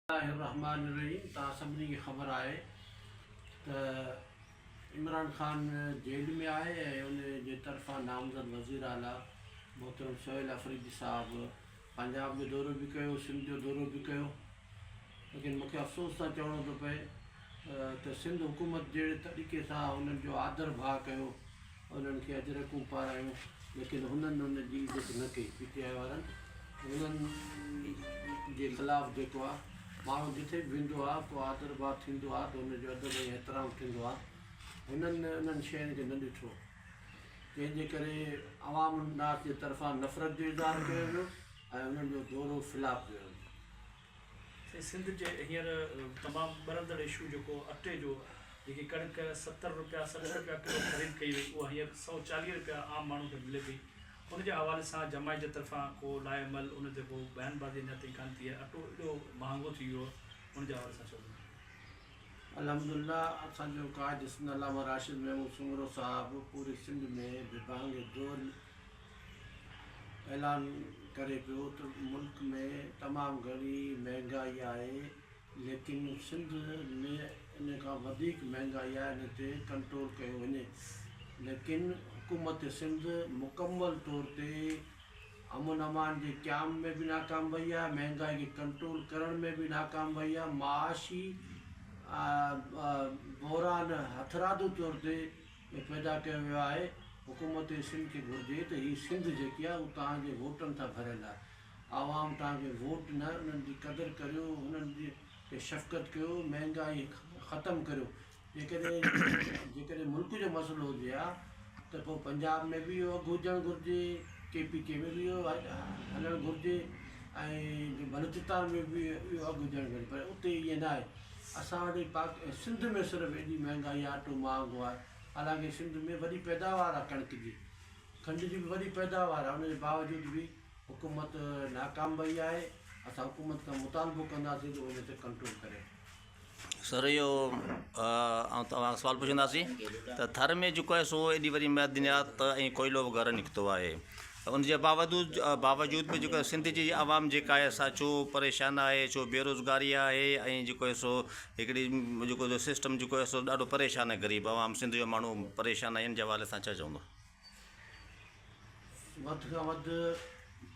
الله الرحمان الرحيم توهان سڀني کي خبر آهي ته عمران خان جيل ۾ آهي ۽ ان جي طرفان نامزد وزير اعليٰ محترم سهيل آفريدي صاحب پنجاب جو دورو به ڪيو سنڌ جو دورو به ڪيو ليڪن مونکي افسوس سان چوڻو ٿو پئي ته سنڌ حڪومت جهڙي طريقي سان انهن جو آڌر ڀاء ڪيو انهن کي اجرڪون پارايون ليڪن هنن ان جي ضد نه ڪئي پي ٽي آء وارن هنن جي خلاف جيڪو آ ماڻهو جتي به ويندو آ ڪو آدر ڀاء ٿيندو آ ته ان جو ادب ۽ احترام ٿيندو آ هنن انهن شين کي نه ڏٺو جنهن جي ڪري عوام الناس جي طرفان نفرت جو اظهار ڪيو ويو ۽ انهن جو دورو فلاپ جو هيو سائين سنڌ جي هينئر تمام ٻرندڙ اشو جيڪو اٽي جو جيڪي ڪڻڪ ستر روپيا سٺ روپيا ڪلو خريد ڪئي وئي اها هينئر سؤ چاليهه روپيا عام ماڻهو کي ملي پئي ان جي حوالي سان جماعت جي طرفان ڪو لاء عمل ان تي ڪو بيان بازي اڃا تائين ڪانه ٿي آهي اٽو ايڏو مهانگو ٿي ويو آهي ان جي حوالي سان چئجو. الحمدالله اسان جو ڪاج سنڌ علامه راشد محمود سومرو صاحب پوري سنڌ ۾ به بانگي دوري اعلان ڪري پيو ته ملڪ ۾ تمام گهڻي مهنگائي آهي ليڪن سنڌ ۾ ان کان وڌيڪ مهنگائي آهي ان تي ڪنٽرول ڪيو وڃي ليڪن حڪومت سنڌ مڪمل طور تي امن امان جي قيام ۾ به ناڪام وئي آهي مهنگائي کي ڪنٽرول ڪرڻ ۾ به ناڪام وئي آهي معاشي بحران هٿرادو طور تي ۾ پيدا ڪيو ويو آهي حڪومت سنڌ کي گهرجي ته هي سنڌ جيڪي آهي اهو توهان جي ووٽن تان ڀريل آهي عوام توهان کي ووٽ ڏنا انهن جي قدر ڪريو انهن تي شفقت ڪيو مهنگائي ختم ڪريو جيڪڏهن جيڪڏهن ملڪ جو مسئلو هجي ها ته پوء پنجاب ۾ به اهو اگهه هجڻ گهرجي ڪي پي ڪي ۾ به اهو هلڻ گهرجي ۽ بلوچستان ۾ به اهو اگهه هجڻ گهرجي پر اتي ائين نه آهي اسان وٽ ۽ پاڪ ۽ سنڌ ۾ صرف ايڏي مهانگائي آهي اٽو مهانگو آهي حالانڪه سنڌ ۾ وڏي پيداوار آهي ڪڻڪ جي کنڊ جي به وڏي پيداوار آهي ان جي باوجود به حڪومت ناڪام وئي آهي اسان حڪومت کان مطالبو ڪنداسين جو ان تي ڪنٽرول ڪري. سر اهو آئون توهان کان سوال پڇنداسين ته ٿر ۾ جيڪو آهي سو ايڏي وڏي معدنيات ۽ ڪوئلو وغيره نڪتو آهي ته ان جي باوجود به جيڪو سنڌ جي عوام جيڪا آهي سا ڇو پريشان آهي ڇو بيروزگاري آهي ۽ جيڪو آهي سو هڪڙي جيڪو جو سسٽم جيڪو آهي سو ڏاڍو پريشان آهي غريب عوام سنڌ جو ماڻهو پريشان آهي ان جي حوالي سان ڇا چوندو؟ وڌ کان وڌ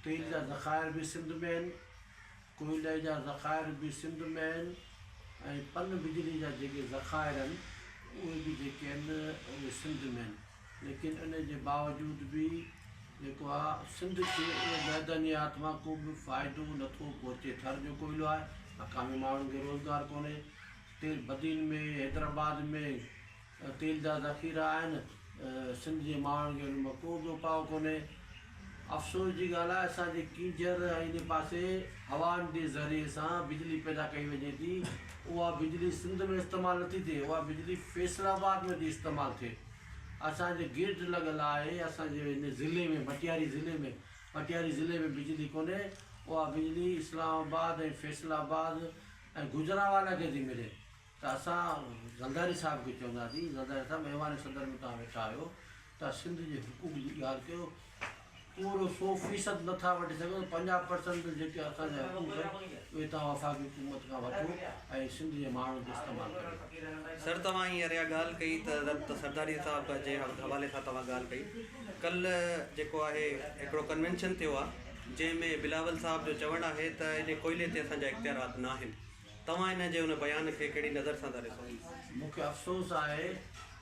تيل جا ذخائر به سنڌ ۾ آهن ڪوئلي جا ذخائر به سنڌ ۾ آهن ۽ پن بجلي جا جيڪي ذخائر آهن اهي به جيڪي آهن اهي سنڌ ۾ آهن ليڪن ان جي باوجود به جيڪو آهي سنڌ کي ان معدنيات مان ڪو به فائدو نٿو پهچي ٿر جو ڪوئلو آهي مقامي ماڻهن کي روزگار ڪونهي تيل بدين ۾ حيدرآباد ۾ تيل جا ذخيرا آهن سنڌ جي ماڻهن کي ان مان ڪو به اپاء ڪونهي افسوس جي ڳالهه آهي اسان جي ڪينجهر ۽ ان پاسي هوائن جي ذريعي سان بجلي پيدا ڪئي وڃي ٿي اها بجلي سنڌ ۾ استعمال نٿي ٿئي اها بجلي فيصل آباد ۾ ٿي استعمال ٿئي اسان جي گيٽ لڳل آهي اسان جي ان ضلعي ۾ ڀٽياري ضلعي ۾ ڀٽياري ضلعي ۾ بجلي ڪونهي اها بجلي اسلام آباد ۽ فيصل آباد ۽ گجرانوالا کي ٿي ملي ته اسان زرداري صاحب کي چونداسين زرداري صاحب ايوان صدر ۾ توهان ويٺا آهيو ته سنڌ جي حقوق جي ڳالهه ڪيو پورو سؤ فيصد نٿا وٺي سگهو ته پنجاهه پرسنٽ جو جيڪي اسان جا حقوق آهن اهي توهان وفاقي حڪومت کان وٺو ۽ سنڌ جي ماڻهن کي استعمال ڪريو. سر توهان هينئر اها ڳالهه ڪئي ته رت سرداري صاحب جي حوالي سان توهان ڳالهه ڪئي ڪلهه جيڪو آهي هڪڙو ڪنوينشن ٿيو آهي جنهن ۾ بلاول صاحب جو چوڻ آهي ته ايڏي ڪوئلي تي اسان جا اختيارات نه آهن توهان ان جي ان بيان کي ڪهڙي نظر سان ٿا ڏسو؟ مون کي افسوس آهي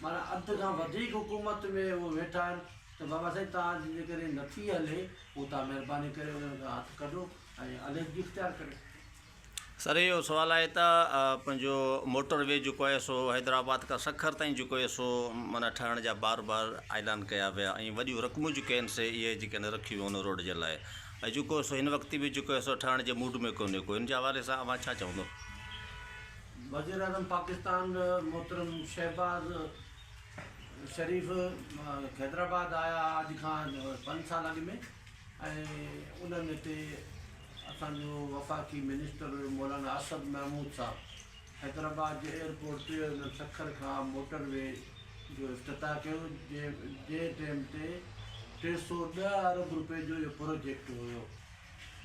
معنيٰ اڌ کان وڌيڪ حڪومت ۾ اهي ويٺا آهن ته بابا سائين توهان جي جي ڪڏهن نٿي هلي پوء توهان مهرباني ڪري انهن کان هٿ ڪڍو ۽ عليحدگي اختيار ڪريو. سر اهو سوال آهي ته پنهنجو موٽر وي جيڪو آهي سو حيدرآباد کان سکر تائين جيڪو آهي سو معنيٰ ٺاهڻ جا بار بار اعلان ڪيا ويا ۽ وڏيون رقمون جيڪي آهن سي اهي جيڪي آهن رکيون ويون ان روڊ جي لاء ۽ جيڪو سو هن وقت به جيڪو آهي سو ٺاهڻ جي موڊ ۾ ڪونهي ڪو هن جي حوالي سان اوهان ڇا چوندو. وزيراعظم پاڪستان محترم شهباز شريف حيدرآباد آيا ھئا اڄ کان پنج سال اڳ ۾ ۽ انھن ھتي اسان جو وفاقي منسٽر مولانا اسد محمود صاحب حيدرآباد جي ايئرپورٽ تي انھن سکر کان موٽر وي جو افتتاح ڪيو جنھن ٽيم تي ٽي سؤ ڏهه ارب روپئي جو اھو پروجيڪٽ ھيو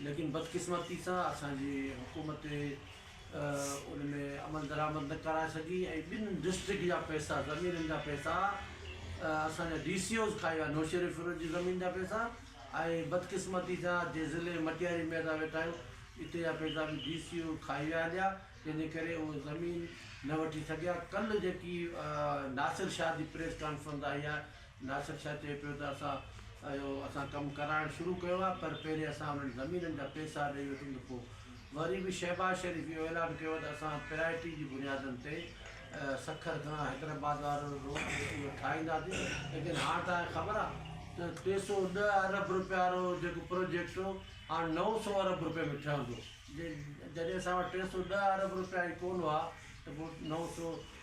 ليڪن بدقسمتي سان اسان جي حڪومت ان ۾ عمل درآمد نه ڪرائي سگهي ۽ ٻن ڊسٽرڪٽ جا پئسا زمينن جا پئسا اسان جا ڊي سي اوز کائي ويا نوشهروفيروز جي زمين جا پئسا ۽ بدقسمتي سان جي ضلعي مٽياري ۾ اسان ويٺا آهيون اتي جا پئسا به ڊي سي او کائي ويا هليا تنهن جي ڪري اهو زمين نه وٺي سگهيا ڪل جيڪي ناصر شاهه جي پريس ڪانفرنس آئي آهي ناصر شاهه چئي پيو ته اسان اهو اسان ڪم ڪرائڻ شروع ڪيو آهي پر پهرين اسان انهن زمينن جا پيسا ڏئي وٺون ته پوء وري به شهباز شريف اهو اعلان ڪيو آهي ته اسان پرايرٽي جي بنيادن تي سکر کان حيدرآباد وارو روڊ اهو ٺاهينداسين ليڪن هاڻ توهان کي خبر آهي ته ٽي سؤ ڏهه ارب روپيه وارو جيڪو پروجيڪٽ هو هاڻ نو سؤ ارب روپيه ۾ ٺهندو جي جڏهن اسان وٽ ٽي سؤ ڏهه ارب روپيا ئي ڪونه هئا ته پوء نو سؤ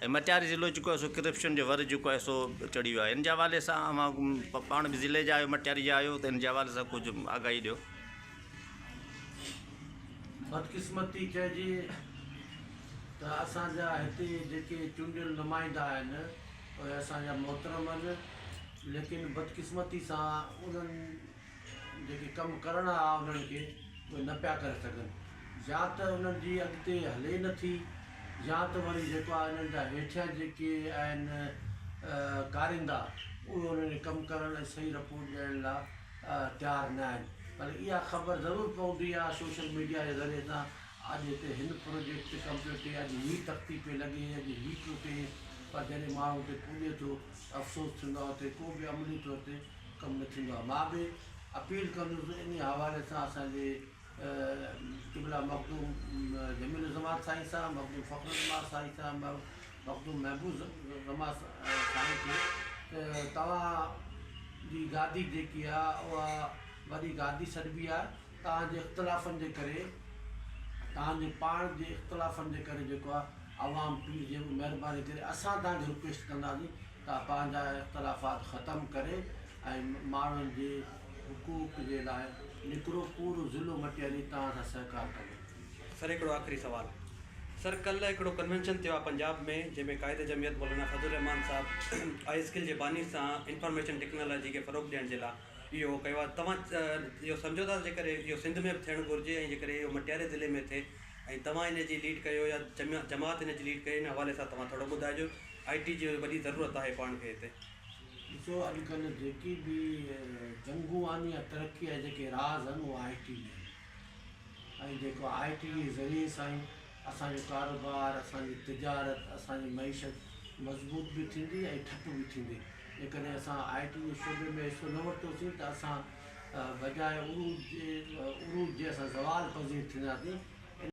مٽياري ضلعو جيڪو آهي سو ڪرپشن جو ور جيڪو آهي سو چڙهي ويو آهي ان جي حوالي سان اوهان پاڻ به ضلعي جا آهيو مٽياري جا آهيو ته ان جي حوالي سان ڪجهه آگاهي ڏيو. بدقسمتي چئجي ته اسان جا هتي جيڪي چونڊيل نمائندا آهن اهي اسان جا محترم آهن ليڪن بدقسمتي سان انهن جيڪي ڪم ڪرڻا آ انهن کي اهي نه پيا ڪري سگهن يا ته انهن جي اڳتي هلي نه ٿي يا ته وري جيڪو آ انهن جا هيٺيان جيڪي آهن ڪاريندا اهي انهن کي ڪم ڪرڻ ۽ صحيح رپورٽ ڏيڻ لا تيار نه آهن پر اها خبر ضرور پوندي آ سوشل ميڊيا جي ذريعي سان اڄ هتي هن پروجيڪٽ تي ڪم پيو ٿئي اڄ هي تختي پئي لڳي اڄ هي پيو ٿئي پر جڏهن ماڻهو اتي پڄي ٿو افسوس ٿيندو آ اتي ڪو به عملي طور تي ڪم نه ٿيندو آهي مان به اپيل ڪندس ته انهي حوالي سان اسان جي قبلا مخدوم جميل الزمان سائين صاحب مخدوم فخر الزمان سائين صاحب مخدوم محبوب الزمان سائين کي ته توهان جي گادي جيڪي آهي اها وڏي گادي سڏبي آهي توهان جي اختلافن جي ڪري توهان جي پاڻ جي اختلافن جي ڪري جيڪو آهي عوام پليز جيڪو مهرباني ڪري اسان توهان کي رڪويسٽ ڪنداسين تان پنهنجا اختلافات ختم ڪري ۽ ماڻهن جي حقوق جي لاء نڪرو پورو ضلعو مٽياري توهان سان سهڪار ڪندو. سر هڪڙو آخري سوال سر ڪلهه هڪڙو ڪنوينشن ٿيو آ پنجاب ۾ جنهن ۾ قائد جمعيت مولانا فضل الرحمان صاحب آئي اسڪل جي باني سان انفارميشن ٽيڪنالاجي کي فروغ ڏيڻ جي لا اهو ڪيو آ توهان اهو سمجهو ٿا ته جيڪڏهن اهو سنڌ ۾ به ٿيڻ گهرجي ۽ جيڪڏهن اهو مٽياري ضلعي ۾ ٿئي ۽ توهان ان جي ليڊ ڪيو يا جماعت ان جي ليڊ ڪئي ان حوالي سان توهان ٿورو ٻڌائجو آء ٽي جي وڏي ضرورت آهي پاڻ کي هتي. ڏسو اڄ ڪلهه جيڪي به جنگون آهن يا ترقي جا جيڪي راز آهن اهو آء ٽي جا آهن ۽ جيڪو آء ٽي جي ذريعي سان ئي اسان جو ڪاروبار اسان جي تجارت اسان جي معيشت مضبوط به ٿيندي ۽ ٺپ به ٿيندي جيڪڏهن اسان آء ٽي جي شعبي ۾ حصو نه ورتوسين ته اسان بجاء عروج عروج جي اسان زوال پذير ٿينداسين ان